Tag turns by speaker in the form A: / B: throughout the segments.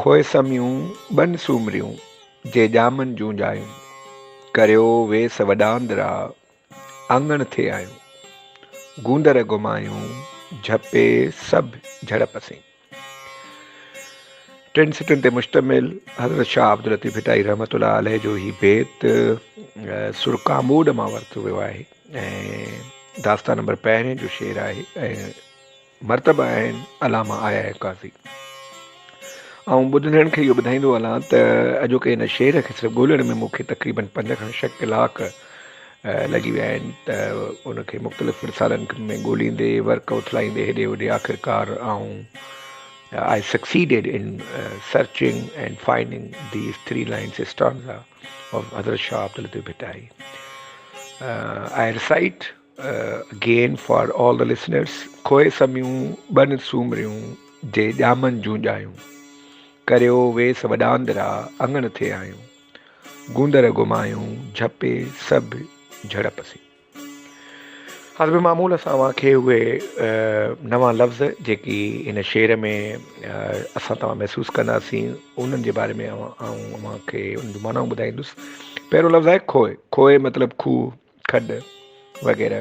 A: کوهه سميون ٻن سومريون، جي ڄامن جون ڄايون. ڪريو ويس وڏاندرا، آڱڻ ٿي آيون. گوندر گهمايون، جهپي سڀ جهڙپ سين. ٽن سٽن تي مشتمل حضرت شاهه عبداللطيف ڀٽائي رحمة الله عليه جو هي بيت سر ڪاموڏ مان ورتو ويو آهي ۽ داستان نمبر پهرين جو شعر آهي ۽ مرتبه آهن علامه آيا قاضي. آئون ٻڌندڙن کي اهو ٻڌائيندو هلان ته اڄوڪي هن شعر کي صرف ڳولڻ ۾ مون کي تقريبن پنج کان ڇهه ڪلاڪ لڳي ويا آهن ته ان کي مختلف رسالن ۾ ڳوليندي ورق اٿلائيندي هيڏي هوڏي آخرڪار آئون I succeeded in searching and finding these three lines stanza of حضرت Shah Abdul Latif Bhittai I recite Again for all the listeners کوهه سميون ٻن سومريون جي ڄامن جون ڄايون ڪريو ويس وڏاندرا اڱڻ ٿي آيون گوندر گمايون جهپي سڀ جهڙپ سين حسب معمول اسان اوهان کي اهي نوان لفظ جيڪي هن شعر ۾ اسان توهان محسوس ڪنداسين انهن جي باري ۾ آئون اوهان کي ان جون معنائون ٻڌائيندس پهريون لفظ آهي کوهه کوهه مطلب کوهه کڏ وغيره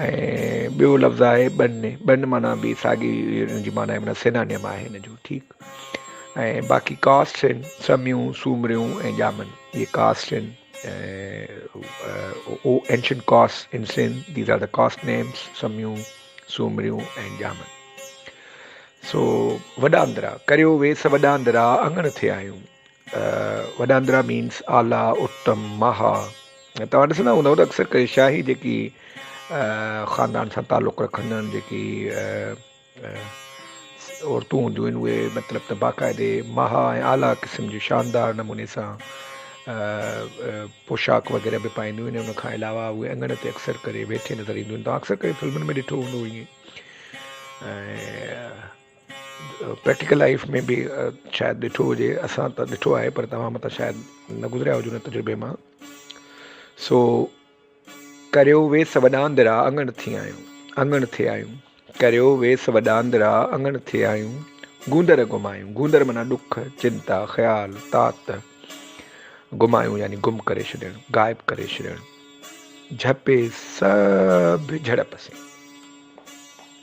A: ۽ ٻيو لفظ آهي ٻن ٻن معنيٰ به ساڳي ان جي معنيٰ معنيٰ سينانيم آهي ان جو ٺيڪ ۽ باقي ڪاسٽ آهن سميون سومريون ۽ ڄامن اهي ڪاسٽ آهن ۽ او اينشنٽ ڪاسٽ ان سين these are the caste names سميون سومريون ۽ ڄامن سو وڏا اندرا ڪريو ويس وڏا اندرا اڱڻ ٿي آيون وڏاندرا مينس اعليٰ اتم مها توهان ڏسندا هوندؤ ته اڪثر ڪري شاهي جيڪي خاندان سان تعلق رکندڙ جيڪي عورتون هونديون آهن اهي مطلب ته باقاعدي مها ۽ اعليٰ قسم جي شاندار نموني سان پوشاڪ وغيره به پائنديون آهن ان کان علاوه اهي اڱڻ تي اڪثر ڪري ويٺي نظر اينديون آهن تون اڪثر ڪري فلمن ۾ ڏٺو هوندو ائين پريڪٽيڪل لائيف ۾ به شايد ڏٺو هجي اسان ته ڏٺو آهي پر توهان مٿان شايد نه گذريا هجو ان تجربي مان سو ڪريو ويس وڏاندرا اڱڻ ٿي آيون اڱڻ ٿي آيون ڪريو ويس وڏاندرا اڱڻ ٿي آيون گوندر گمايون گوندر منا ڏک چنتا خيال تات گمايون يعني گم ڪري ڇڏڻ غائب ڪري ڇڏڻ جھپي سڀ جھڙپ سين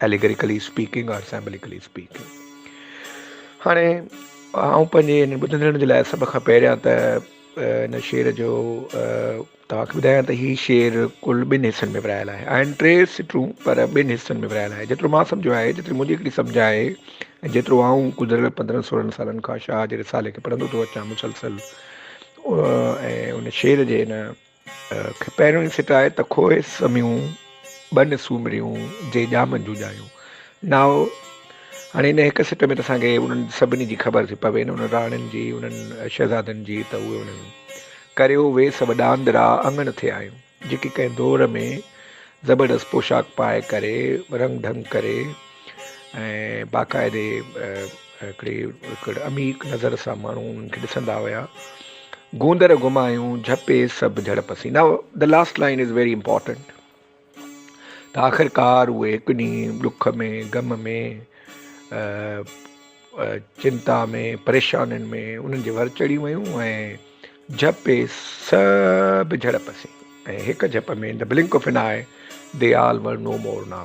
A: Allegorically Speaking or Symbolically Speaking هاڻي آئون پنهنجي هن ٻڌندڙن جي لاء سڀ کان پهريان ته هن شعر جو توهان کي ٻڌايان ته هي شعر ڪل ٻن حصن ۾ ورهايل آهي آهن ٽي سٽون پر ٻن حصن ۾ ورهايل آهي جيترو مان سمجهو آهي جيتري منهنجي هڪڙي سمجھ آهي ۽ جيترو آئون گذريل پندرهن سورهن سالن کان شاهه جي رسالي کي پڙهندو ٿو اچان مسلسل ۽ ان شعر جي هن کي پهريون ئي سٽ آهي ته کوهي سميون ٻن سومريون جي ڄامن جون ڄايون نائو هاڻي ان هڪ سٽ ۾ ته اسان کي انهن سڀني جي خبر ٿي پوي نه انهن راڻين جي انهن شهزادن جي ته اهي انهن ڪريو وي سڀ ڏاندڙا اڱڻ ٿي آيون جيڪي ڪنهن دور ۾ زبردست پوشاڪ پائي ڪري رنگ ڍنگ ڪري ۽ باقاعدي هڪڙي هڪڙ عميق نظر سان ماڻهو انهن کي ڏسندا هيا گوندر گمايون جهپي سڀ جهڙپ سين now the last line is very important ته آخرڪار اهي هڪ ڏينهن ڏک ۾ غم ۾ چنتا ۾ پريشانين ۾ انهن جي ور چڙهي ويون ۽ جهپي سڀ جهڙپ سين ۽ هڪ جهپ ۾ in blink of an eye the all were no مور ناء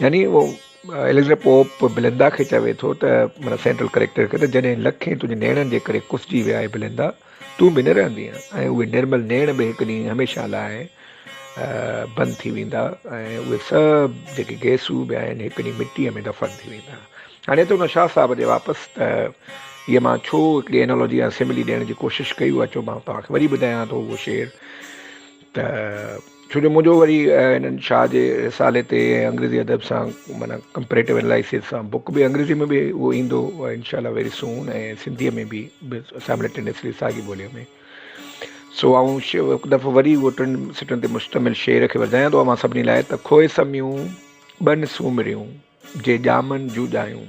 A: يعني اهو اليگزينڊر پوپ بليندا کي چوي ٿو ته معنيٰ سينٽرل ڪريڪٽر کي ته جڏهن لکين تنهنجي نيڻن جي ڪري ڪسجي ويا اي بليندا تون به نه رهندينء ۽ اهي نرمل نيڻ به هڪ ڏينهن هميشه لاء بند ٿي ويندا ۽ اهي سڀ جيڪي گيسو به آهن هڪ ڏينهن مٽيء ۾ دفن ٿي ويندا هاڻي ته هن شاهه صاحب جي واپس ته هيء مان ڇو هڪڙي انالوجي يا سملي ڏيڻ جي ڪوشش ڪئي اهو اچو مان توهان کي وري ٻڌايان ٿو اهو شعر ته ڇو جو منهنجو وري هنن شاهه جي رسالي تي ۽ انگريزي ادب سان معنيٰ ڪمپريٽو انالائسز سان بوڪ به انگريزي ۾ به اهو ايندو انشاء الله ويري سون ۽ سنڌي ۾ به سائملٽينيسلي ساڳي ٻولي ۾ سو آئون هڪ دفعو وري اهو ٽن سٽن تي مشتمل شعر کي وڌايان ٿو اوهان سڀني لاء ته کوهه سميون ٻن سومريون جي ڄامن جون ڄايون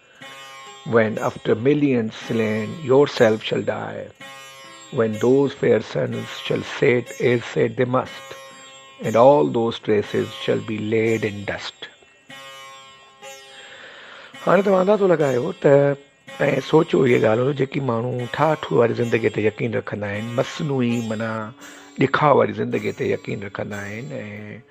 A: وين افٽر ملينز سلين yourself shall die when those fair sons shall set as set the must and all those ٽريسز shall B lead in dust هاڻي توهان اندازو لڳايو ته ۽ سوچو اهي ڳالهيون جيڪي ماڻهو ٺاٺ واري زندگي تي يقين رکندا آهن مصنوعي منا ڏکاء واري زندگي تي يقين رکندا آهن ۽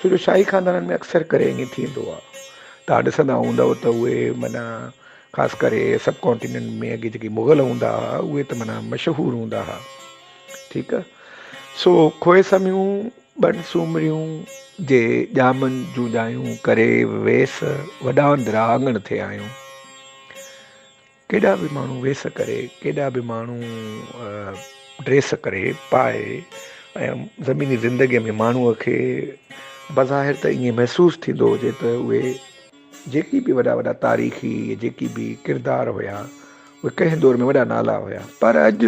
A: ڇو جو شاهي خاندانن ۾ اڪثر ڪري ائين ٿيندو آهي. توهان ڏسندا هوندؤ ته اهي معنيٰ خاص ڪري سب ڪانٽيننٽ ۾ اڳي جيڪي مغل هوندا هئا اهي ته معنيٰ مشهور هوندا هئا. ٺيڪ آهي. سو کوهي سميون، ٻن سومريون جي ڄامن جون ڄايون ڪري ويس وڏا اندرا آڱڻ ٿي آيون. ڪيڏا به ماڻهو ويس ڪري، ڪيڏا به ماڻهو ڊريس ڪري، پائي ۽ زميني زندگيء ۾ ماڻهوء کي بظاهر ته ائين محسوس ٿيندو هجي ته اهي جيڪي به وڏا وڏا تاريخي جيڪي به ڪردار هيا اهي ڪنهن دور ۾ وڏا نالا هيا پر اڄ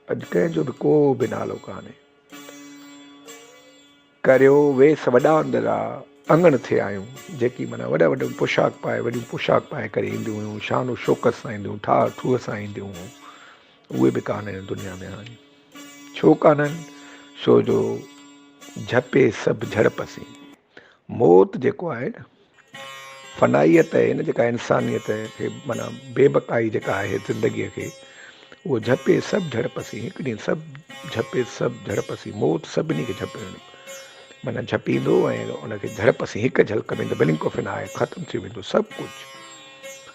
A: اڄ ڪنهن جو به ڪو به نالو ڪانهي. ڪريو ويس وڏا اندرا اڱڻ ٿي آيون. جيڪي معنيٰ وڏا وڏا پوشاڪ پائي وڏيون پوشاڪ پائي ڪري اينديون هيون شان و شوڪت سان اينديون ٺاهه ٺوهه سان اينديون هيون اهي به ڪانه هن دنيا ۾ هاڻي ڇو ڪانهن ڇو جو جهپي سڀ جهڙپ سين موت جيڪو آهي نه فنائيت ۽ ان جيڪا انسانيت کي معنيٰ بي بقائي جيڪا آهي زندگيء کي اهو جهپي سڀ جهڙپ سين هڪ ڏينهن سڀ جهپي سڀ جهڙپ سين موت سڀني کي جهپ معنيٰ جهپيندو ۽ ان کي جهڙپ سين هڪ جهلڪ ۾ ته بلنڪ آف اين آء ختم ٿي ويندو سڀ ڪجهه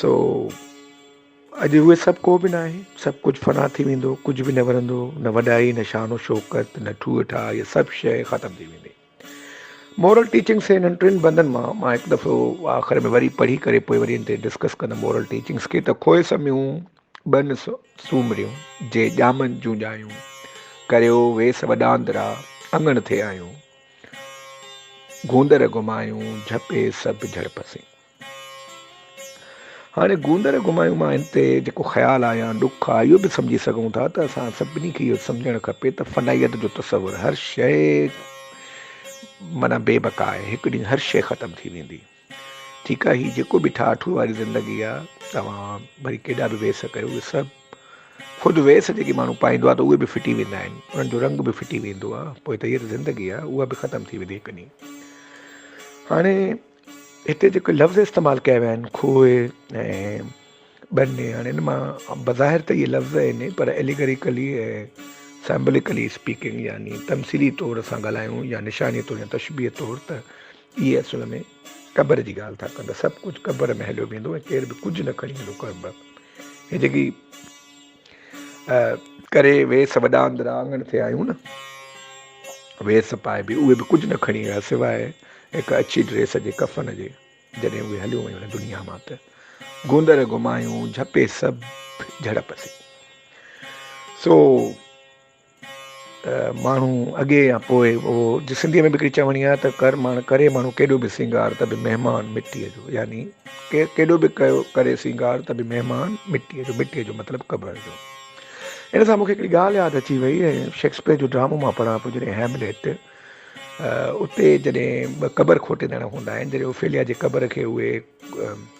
A: سو اڄ اهي سڀ ڪو به ناهي، سڀ ڪجهه فنا ٿي ويندو، ڪجهه به نه ورندو، نه وڏائي، نه شان و شوڪت، نه ٺوهه ٺاهه، اها سڀ شيء ختم ٿي ويندي. مورل ٽيچنگس جي انهن ٽن بندن مان مان هڪ دفعو آخر ۾ وري پڙهي ڪري پوء وري ان تي ڊسڪس ڪندم مورل ٽيچنگس کي ته کوهه سميون ٻن سومريون جي ڄامن جون ڄايون ڪريو ويس وڏاندرا اڱڻ ٿي آيون گوندر گهمايون جهپي سڀ جهڙپسين هاڻي گوندر گمايون مان هن تي جيڪو خيال آ يا ڏک آ، اهو به سمجهي سگهون ٿا ته اسان سڀني کي اهو سمجهڻ کپي ته فنائيت جو تصور هر شيء معنيٰ بي بقا آهي، هڪ ڏينهن هر شيء ختم ٿي ويندي. ٺيڪ آ، هي جيڪو به ٺاهه ٺوهه واري زندگي آ، توهان ڀلي ڪيڏا به ويس ڪيو، اهي سڀ خود ويس جيڪي ماڻهو پائيندو آ ته اهي به ڦٽي ويندا آهن، انهن جو رنگ به ڦٽي ويندو آ، پوء ته هيء ته زندگي آ، اها به ختم ٿي ويندي هڪ ڏينهن. هاڻي. هتي جيڪي لفظ استعمال ڪيا ويا آهن کوهه ۽ ٻني هاڻي ان مان بظاهر ته اهي لفظ آهن ئي پر اليگريڪلي ۽ سمبوليڪلي اسپيڪنگ يعني تمثيلي طور اسان ڳالهايون يا نشاني طور يا تشبيهه طور ته اهي اصل ۾ قبر جي ڳالهه ٿا ڪن ته سڀ ڪجهه قبر ۾ هليو ويندو ۽ ڪير به ڪجهه نه کڻي ويندو قبر هي جيڪي ڪري ويس وڏا اندران آڱڻ تي آيون نه ويس پائي به اهي به ڪجهه نه کڻي ويا سواء هڪ اڇي ڊريس جي ڪفن جي جڏهن اهي هليون ويون هن دنيا مان ته گوندر گمايون جهپي سڀ جهڙپ سي سو ماڻهو اڳي يا پوء اهو جي سنڌيء ۾ به هڪڙي چوڻي آهي ته ڪر ماڻهو ڪري ماڻهو ڪيڏو به سينگار ته به مهمان مٽيء جو يعني ڪير ڪيڏو به ڪيو ڪري سينگار ته به مهمان مٽيء جو مٽيء جو مطلب قبر جو ان سان مونکي هڪڙي ڳالهه ياد اچي وئي ۽ شيڪسپيئر جو ڊرامو مان پڙهان پيو جڏهن هيمليٽ اتي جڏهن ٻه قبر کوٽيندڙ هوندا آهن جڏهن اوفيليا جي قبر کي اهي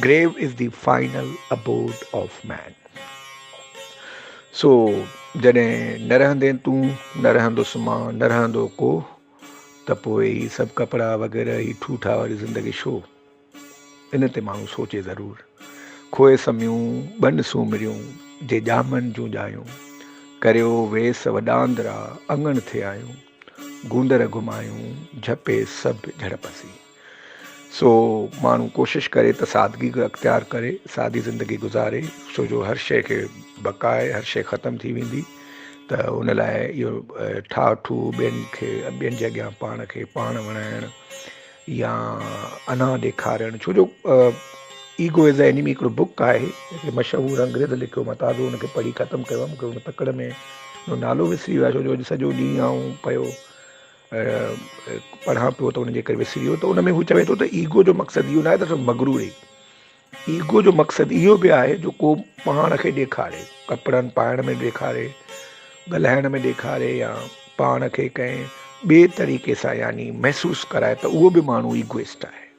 A: Grave is the final abode of man. سو جڏهن نه رهندين تون نه رهندس مان نه رهندو ڪو ته پوء هي سڀ ڪپڙا وغيره هي ٺوٺا واري زندگي شو ان تي ماڻهو سوچي ضرور کوهه سميون ٻن سومريون جي ڄامن جون ڄايون ڪريو ويس وڏاندرا اڱڻ ٿي آيون گوندر گھمايون جھپي سڀ جھڙپسي سو ماڻهو ڪوشش ڪري ته سادگي اختيار ڪري سادي زندگي گذاري ڇو جو هر شيء کي بقا آهي هر شيء ختم ٿي ويندي ته ان لاء اهو ٺاهه ٺوهه ٻين کي ٻين جي اڳيان پاڻ کي پاڻ وڻائڻ يا انا ڏيکارڻ ڇو جو ايگو از اي انيمي هڪڙو بک آهي جيڪي مشهور انگريز لکيو ماں تازو ان کي پڙهي ختم ڪيو مون کي ان تڪڙ ۾ نالو وسري ويو آهي ڇو جو اڄ سڄو ڏينهن آئون پيو پڙهان پيو ته ان جي ڪري وسري ويو ته ان ۾ هو چوي ٿو ته ايگو جو مقصد اهو ناهي ته صرف مغرور ئي ايگو جو مقصد اهو به آهي جو ڪو پاڻ کي ڏيکاري ڪپڙن پائڻ ۾ ڏيکاري ڳالهائڻ ۾ ڏيکاري يا پاڻ کي ڪنهن ٻئي طريقي سان يعني محسوس ڪرائي ته اهو به ماڻهو ايگوئسٽ آهي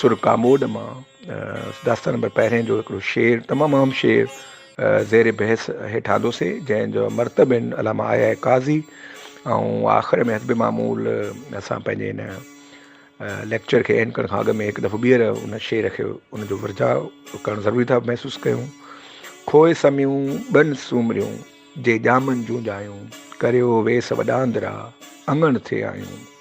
A: سر ڪاموڏ مان داستان نمبر پهرين جو هڪڙو شعر تمام اهم شعر زير بحث هيٺ آندوسي جنهن جو مرتب آهن علامه آيا قاضي ۽ آخر ۾ حسب معمول اسان پنهنجي هن ليڪچر کي اينڊ ڪرڻ کان اڳ ۾ هڪ دفعو ٻيهر ان شعر کي ان جو ورجاء ڪرڻ ضروري ٿا محسوس ڪيون کوئي سميون ٻن سومريون جي ڄامن جون ڄايون ڪريو ويس وڏاندرا اڱڻ ٿي آيون